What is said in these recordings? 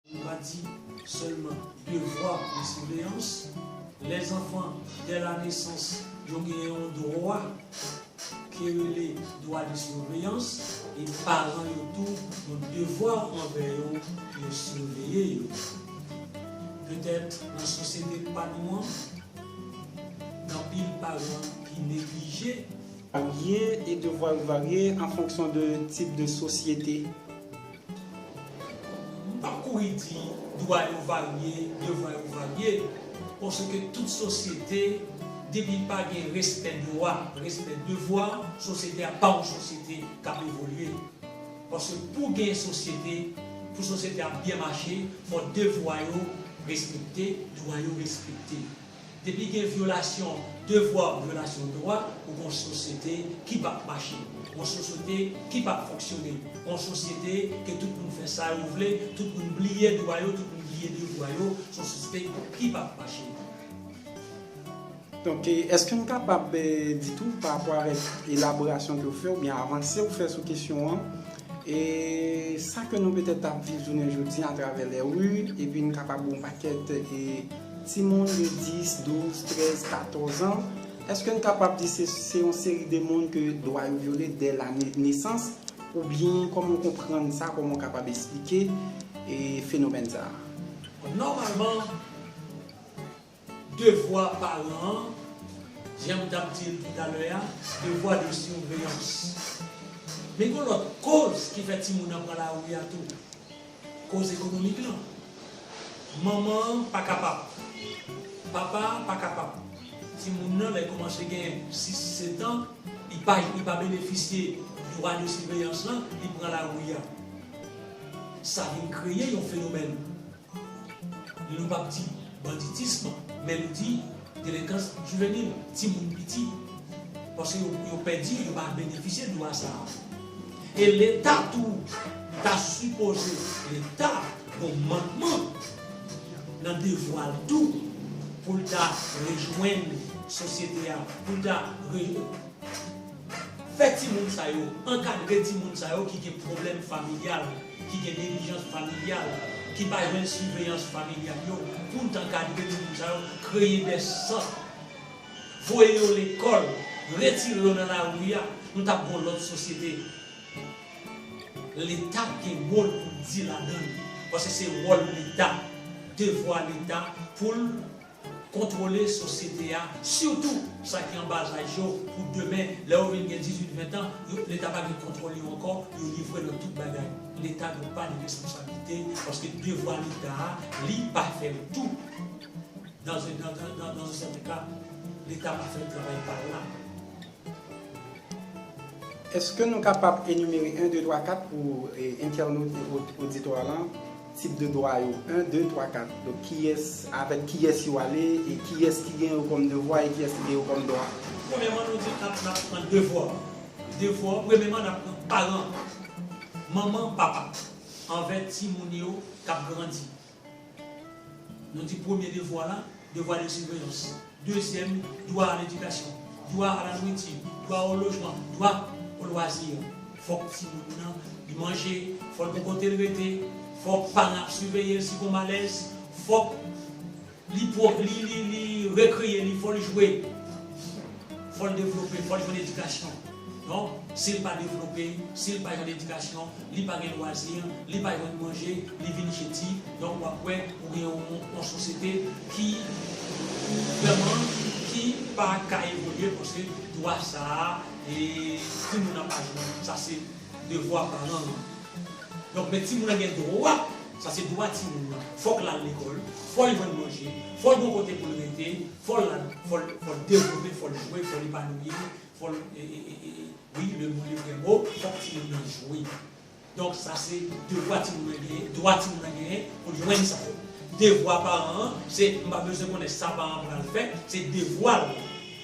Nou pa di sèlman devwa de siveyans, lè zanfan dè la nesans yo gen yon dwa ki rele dwa de siveyans e paran yo tou yon devwa anvè yo pou yo siveye yo. Petèt nan sosyete pa nou an, anpil paran ki neglije. Dwa yo varye e devwa yo varye an fonksyon de tip de sosyete M pap kouri di dwa yo varye, devwa yo varye, paske tout sosyete depi pa gen respè dwa, respè devwa, sosyete a pa yon sosyete kap evolye. Paske pou gen sosyete, pou sosyete a byen mache, fò devwa yo respekte, dwa yo respekte. Depi gen vyolasyon devwa ou vyolasyon dwa, ou gen yon sosyete ki pap mache, yon sosyete ki pap fonksyone, yon sosyete ke tout moun fè sa yo vle, tout moun bliye dwa yo, tout moun bliye devwa yo, se yon sosyete ki pap mache. Donk, èske nou kapab di tou pa rapò avèk elaborasyon ke ou fè oubyen avanse ou fè sou kesyon an, sa ke nou petèt ap viv jounen jodi a atravè lè ri, epi nou kapab gen yon pakèt. Timoun de 10, 12, 13, 14 an, èske n kapab di se se yon seri de moun ke dwa yo vyole dè lane nesans? Oubyen kòman w konprann sa, kòman w kapab esplike fenomèn sa a? Bon, nòmalman, devwa paran an, jan m t ap di l toutalè a, devwa de siveyans. Men gen yon lòt koz ki fè timoun nan pran lari a tou. Koz ekonomik lan. Manman an pa kapab. Papa a pa kapab. Timoun nan lè koumanse gen 6, 7 an, li pa li pa benefisye dwa de siveyans lan, li pran lari a. Sa vin kreye yon fenomèn. Nou pap di. Banditism, melodi, delenkans jivenil, timoun piti. Paske yo yo pèdi yo pa benefisye dwa sa a. E leta tou ta sipoze leta gon mankman nan devwa l tou pou l ta rejwenn sosyete a pou l ta re fè timoun sa yo ankadre timoun sa yo ki gen pwoblèm familyal. ki gen neglijans familyal, ki pa jwenn siveyans familyal yo pou n t ankadre timoun sa yo, kreye dè sant, voye yo lekòl, retire yo nan lari a, nou t ap gen yon lòt sosyete. Leta gen mo l pou l di ladan l, paske se wòl Leta, devwa Leta pou l. Kontwole sosyete a, sitou sa ki anba laj yo, pou demen, lè yo vin gen dizuit, ventan, yo, Leta pa gen kontwòl yo ankò, yo livre nan tout bagay. Leta dwe pa de responsablite, paske devwa Leta a, li pa fè l tou. Nan ze, nan, nan, nan, nan ze sèten ka, Leta pa fè travay pa l la. Eske nou kapab enimere 1, 2, 3, 4 pou entènot e oditwa lan? Tip de dwa yo, 1, 2, 3, 4. Donk kiyès, avèk kiyès yo ale, e kiyès ki gen yo kòm devwa e kiyès ki gen yo kòm dwa. Premyèman nou di nap nap pran devwa w. Devwa w premyèman nap pran paran w, manman, papa anvè timoun yo kap grandi. Nou di premye devwa la. Devwa de siveyans. Dezyèm, dwa a ledikasyon, dwa a la nwiti, dwa o lojman, dwa o lwazi. Fòk timoun nan li manje, fò l gon kote l rete, fòk paran ap siveye l si gon malèz, fòk li pwo li li li rekreye li, fò l jwe, fò l devlope, fò l jwenn edikasyon. Donk, si l pa devlope, si l pa jwenn edikasyon, li pa gen lwazi, li pa jwenn manje, li vin jedi, donk w ap wè ou gen yon sosyete ki vrèman ki pa ka evolye paske dwa sa a timoun nan pa jwenn. Sa se devwa paran an. Donk, men timoun nan gen dwa, sa se dwa timoun nan, fò k l al lekòl, fò l jwenn manje, fò l gen yon kote pou l rete, fò l al, fò l devlope, fò l jwe, fò l epanouyi. Fol wi le moun li gen mo fok timoun nan jwe donk sa se devwa timoun nan genyen dwa timoun nan genyen poul jwenn sa yo devwa paran an se m pa bezwen konnen sa paran an pral fè se devwal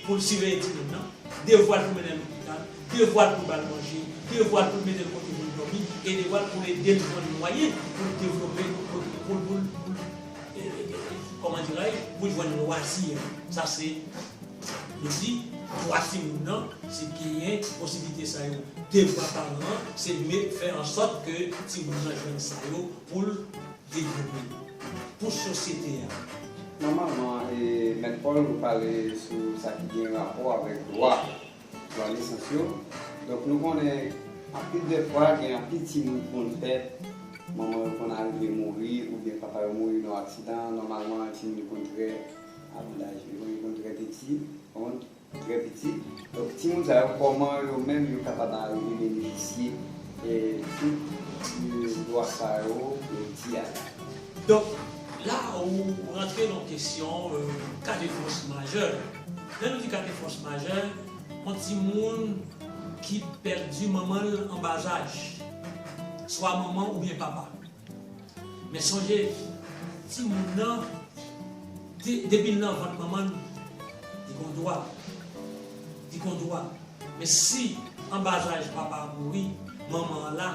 poul siveye timoun nan devwal poul mennenl lopital devwal poul bal manje devwal poul metel kote poul domi e devwal poul edel jwenn mwayen poul devlope poul poul poul koman dirais je poul jwenn lwazir sa se. Li di, dwa timoun nan, si genyen posiblite sa yo devwa paran an se met fè ansòt ke timoun nan jwenn sa yo pou l devlope pou sosyete a. Nòmalman, Mèt Paul ou pale sou sa ki gen rapò avèk dwa, dwa nesans yo, donk nou konnen anpil dè fwa gen anpil timoun ki konn fèt, manman yo konn arive mouri oubyen papa yo mouri nan yon aksidan, nòmalman timoun yo konn trè. Ak laj yo, yo konn trè piti, kont, trè piti. Donk timoun sa yo, kòman yo menm yo kapab arive benefisye tout dwa sa yo pou di a la? Donk, la ou rantre nan kesyon ka de fòs majè. Lè nou di ka de fòs majè, yon timoun ki pèdi manman l anbazaj, swa manman oubyen papa. Men sonje, timoun nan, depi l nan vant manman l, li gon dwa. Li gon dwa. Men si an bazaj papa a mouri, manman an la,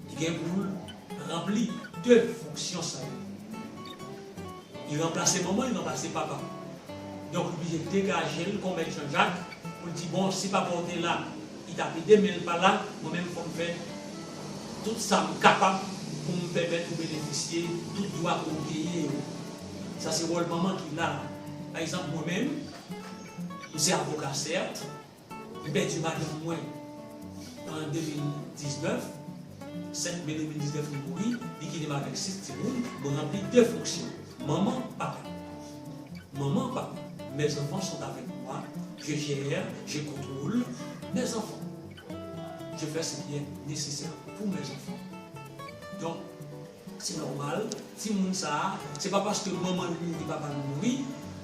li gen pou l ranpli 2 fonksyon sa yo. Li ranplase manman, li ranplase papa. Donk li oblije degaje l kon mèt Janjak pou l di bon, si papa w te la, Li tap edem menl pa la, mwen menm fòm fè tout sam kapab poum pèmèt ou benefisye tout dwa ke ou genyen yo. Sa se wòl manman ki la. Pa egzanp mwen menm, m se avoka sèt, m pèdi madanm mwen an 2019, 5 me 2019 li mouri, li kite m avèk 6 timoun, mwen ranpli 2 fonksyon, manman, papa. Manman, papa, mes enfants sont avec moi, je gère, je contrôle, mes enfants. Je fais ce qui est nécessaire pour mes enfants. Donk. Se nòmal, timoun sa a, se pa paske manman l mouri papa l mouri,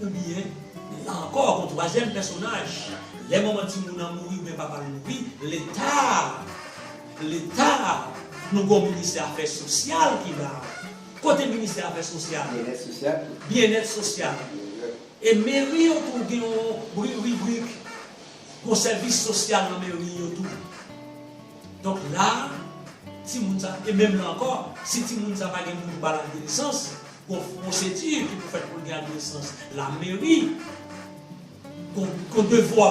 oubyen, la ankò, yon twazyèm pèsonaj, lè manman timoun nan mouri oubyen papa l mouri, Leta a, Leta a, nou gen yon Ministè Afè Sosyal ki la a. Kote Ministè Afè Sosyal? Byennèt Sosyal tou. Byennèt Sosyal. E meri yo tou gen yon ribrik pou sèvis sosyal nan meri yo tou. Donk la a, timoun sa, e menm la ankò, si timoun sa pa gen moun pou ba l adolesans, gon pwosedi ki pou fèt pou l gen adolesans. Lameri gon devwa,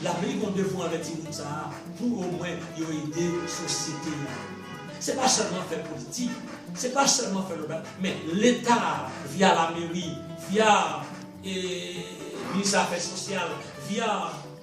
lameri gon devwa anvè timoun sa a pou omwen yo ede sosyete a. Se pa sèlman fè politik, se pa sèlman fè lòt bagay, men Leta via lameri, via Minis Afè Sosyal, via.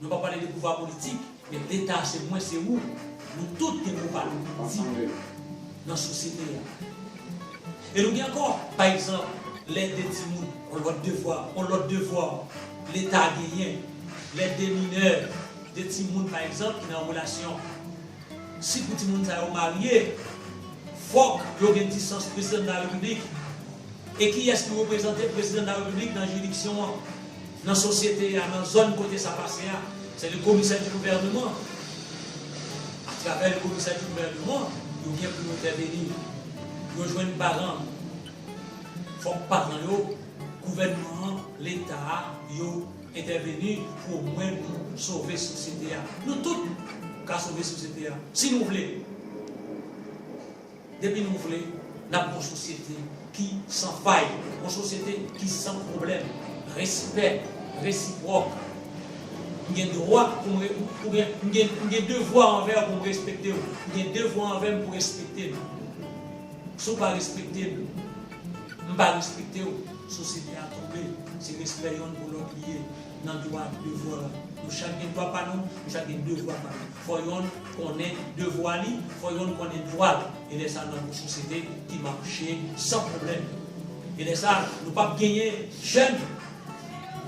Mwen pa pale de pouvwa politik, men Leta a se mwen, se ou, nou tout gen mo pa nou pou nou di nan sosyete a. E nou gen ankò, pa egzanp, lè de timoun, on lòt devwa, on lòt devwa Leta genyen, lè de minè, de timoun pa egzanp ki nan relasyon. Si pou timoun sa yo marye fòk yo gen disans prezidan de la repiblik e kiyès ki reprezante prezidan de la repiblik nan jiridiksyon an, nan sosyete a, nan zòn kote sa pase a? Se le commissaire du gouvernement. A travè le commissaire du gouvernement, yo gen pou yo entèveni. Yo jwenn paran. Fòk paran yo, gouvènman an, leta a, yo. Entèveni pou o mwen nou sove sosyete a. Nou tout ka sove sosyete a si nou vle. Depi nou vle, n ap yon sosyete ki san fay, yon sosyete ki san pwoblèm. Respè resipwòk. M gen dwa pou m re, oubyen m gen, m gen devwa anvè w pou m respekte w. Ou gen devwa anvè m pou w respekte m. Si w pa respekte m, m pa respekte w. Sosyete a tonbe, se respè yonn pou lòt li ye nan dwa ak devwa. Nou chak gen dwa pa nou, nou chak gen devwa pa nou. Fò yonn konnen devwa li, fò yonn konnen dwa l. E lè sa a n ap gen yon sosyete ki mache san pwoblèm. E lè sa a, nou pap genyen jèn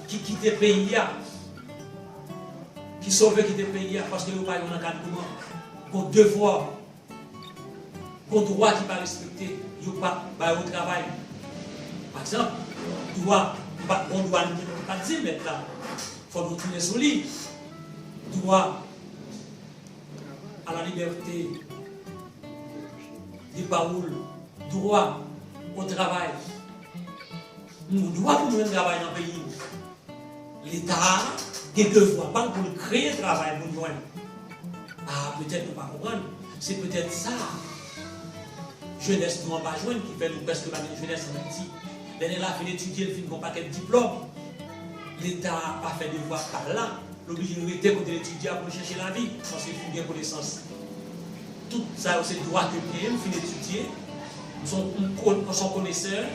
ki kite peyi a, ki sove kite peyi a paske yo pa yon ankadreman. Bon devwa Gon dwa ki pa respekte, yo pa ba yo travay. Pa egzanp, dwa m pa gon dwa m ki pa di mèt la fò nou tounen sou li, dwa a la libète de pawol, dwa o travay. Moun dwa pou jwenn travay nan peyi nou. Leta a gen devwa pa l pou l kreye travay moun jwenn. A petèt nou pa konprann, se petèt sa jenès nou an pa jwenn ki fè nou prèske pa gen jenès an Ayiti. Lè nèg la fin etidye, l fin gen yon pakèt diplòm, Leta a pa fè devwa pa l la, l oblije rete kote l etidye a pou l chèche lavi paske l fin gen konesans. Tout sa yo se dwa ke m genyen, m fin etidye, m s on konesè.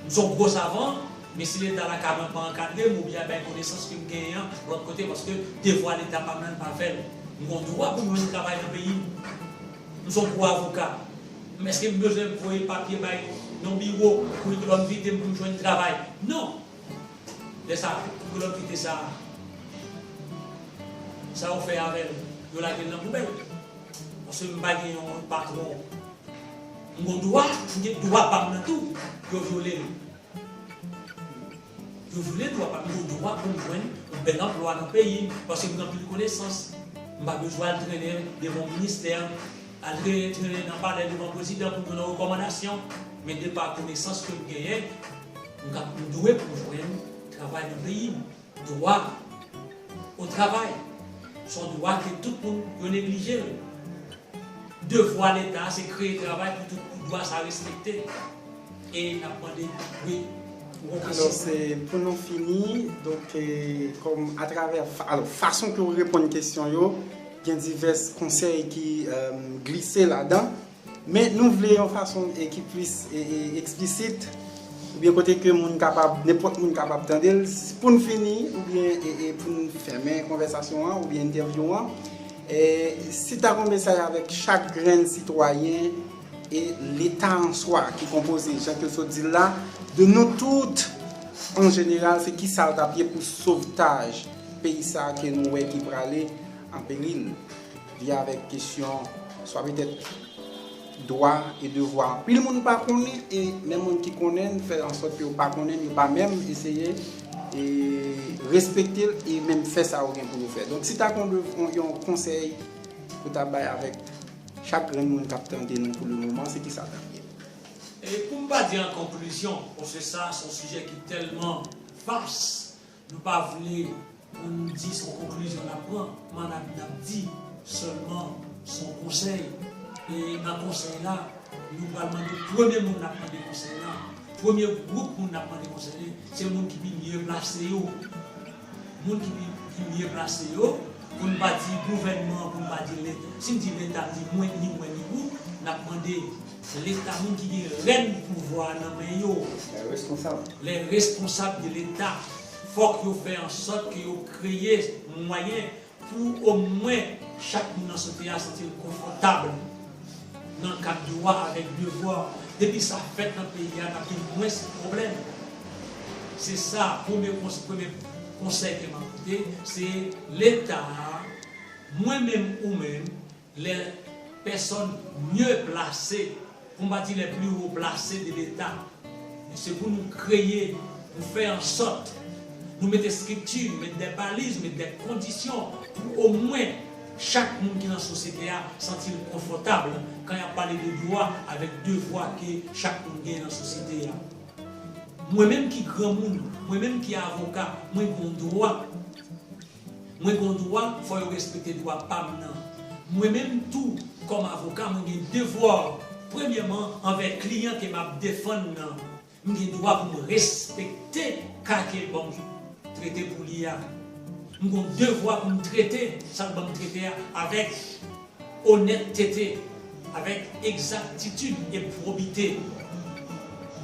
M son gwo savan, men si leta la ka banm pa ankadrem ou byen bay konesans kem genyen an lot kote paske devwa leta pam lan pa fel. M gon dwa poum jwenn travay nan peyim. M son gwo avoka, men eskem bezwen voye papye bay yon biwo pou yo banm vitem poum jwenn travay? Non! Lè sa poukila w kite sa a? Sa yo fè avèl? Yo lagel nan poubèl? Paske m pa gen yon patwon. M gon dwa, m gen dwa pam nan tou, yo vyole l. Yo vyole dwa pam, m gen dwa pou m jwenn yon bèl anplwa nan peyi m, paske m gen anpil konesans. M pa bezwen al trennen devan yon ministè, al trennen trennen nan palè devan prezidan pou m jwenn yon rekòmandasyon. Men de pa konesans ke m genyen, m ka, m dwe pou m jwenn travay nan peyi m. Dwa o travay se yon dwa ke tout moun yo neglije l. Devwa leta se kreye travay pou tout pou dwa sa respekte e n ap mande wi pou w kase. Alò se pou nou fini, donk kòm atravè, alò fason ke w reponn kesyon yo gen divès konsèy ki glise ladan. Men nou vle yon fason ki plis eksplisit oubyen kote ke moun kapab, nenpòt moun kapab tande l. Pou n fini oubyen pou n fèmen konvèsasyon an oubyen entèvyou an, si ta gen yon mesaj avèk chak grenn sitwayen e leta an swa ki konpoze jan ke w sot di l la, de nou tout an jeneral se kisa l t ap ye pou sovtaj peyi sa ke nou wè ki prale an peril? Vin avèk kesyon swa petèt dwa e devwa anpil moun pa konnen e menm moun ki konnen l fè ansòt ke yo pa konnen l, yo pa menm eseye respekte l e menm fè sa yo gen pou yo fè. Donk si ta gen yon konsèy pou ta bay avèk chak grenn moun k ap tande nou pou le moman, se ki sa l t ap ye? E pou m pa di an konklizyon, paske sa se yon sijè ki tèlman vas, Nou pa vle pou nou di son konklizyon nap pran man ap nap di sèlman son konsèy e nan konsèy la nou pral mande premye moun nap mande konsèy la premye gwoup moun nap mande konsèy la se moun ki pi mye plase yo moun ki pi mye plase yo pou n pa di gouvènman pou n pa di leta si n di leta m di mwen ni mwen ni ou nap mande Se leta moun ki gen rèn pouvwa a nan men yo. Lè responsab. Lè responsab de leta fòk yo fè an sòt ke yo kreye mwayen pou o mwen chak moun nan sosyete a santi l konfòtab nan kad dwa avèk devwa. Depi sa fèt nan peyi a nap gen mwens pwoblèm. Se sa premye premye konsèy ke map pote se leta a mwen menm ou menm Lè pèsòn mye plase pou m pa di lè pli wo plase de leta se pou nou kreye pou fè an sòt nou met estrikti met dè baliz met dè kondisyon pou omwen chak moun ki nan sosyete a santi l konfòtab kan y ap pale de dwa avèk devwa ke chak moun genyen nan sosyete a mwen menm ki granmoun mwen menm ki avoka mwen gen yon dwa Mwen gon dwa fò yo respekte dwa pam nan. Mwen menm tou kòm avoka mwen gen devwa premyèman anvè kliyan ke map defann nan. M gen dwa pou m respekte ka kel banm trete pou li a. M gon devwa pou m trete sal banm trete a avèk. Onèttete avèk egzaktitid e pwobite.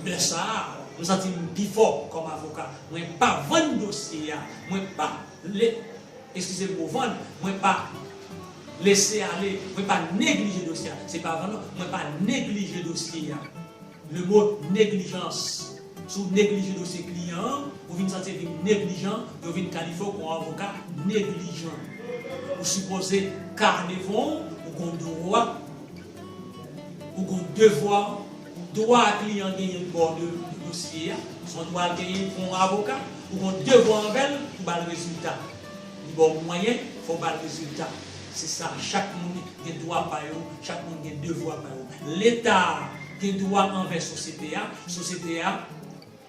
Lè sa a, m santi m pi fò kòm avoka. Mwen pa vann dosye a, mwen pa le, eskize m mo vann, mwen pa lese ale, mwen pa neglije dosye a. Se pa vann non, mwen pa neglije dosye a. Le mot negligence Si w neglije dosye kliyan an, ou vin santi l vin neglijan, yo vin kalifye w kon avoka neglijan. Ou sipoze ka devan w, ou konn dwa, ou konn devwa. Dwa kliyan an genyen bò de dosye a, se yon dwa l genyen kon avoka, ou konn devwa anvè l pou ba l rezilta. Li ba w mwayen, fò w ba l rezilta. Se sa, chak moun gen dwa pa yo, chak moun gen devwa pa yo. Leta a gen dwa anvè sosyete a, sosyete a,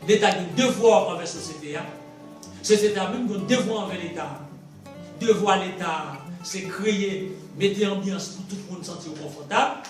Leta gen devwa anvè sosyete a, sosyete a menm gen devwa anvè Leta a. Devwa Leta a se kreye, mete anbyans pou tout moun santi yo konfòtab.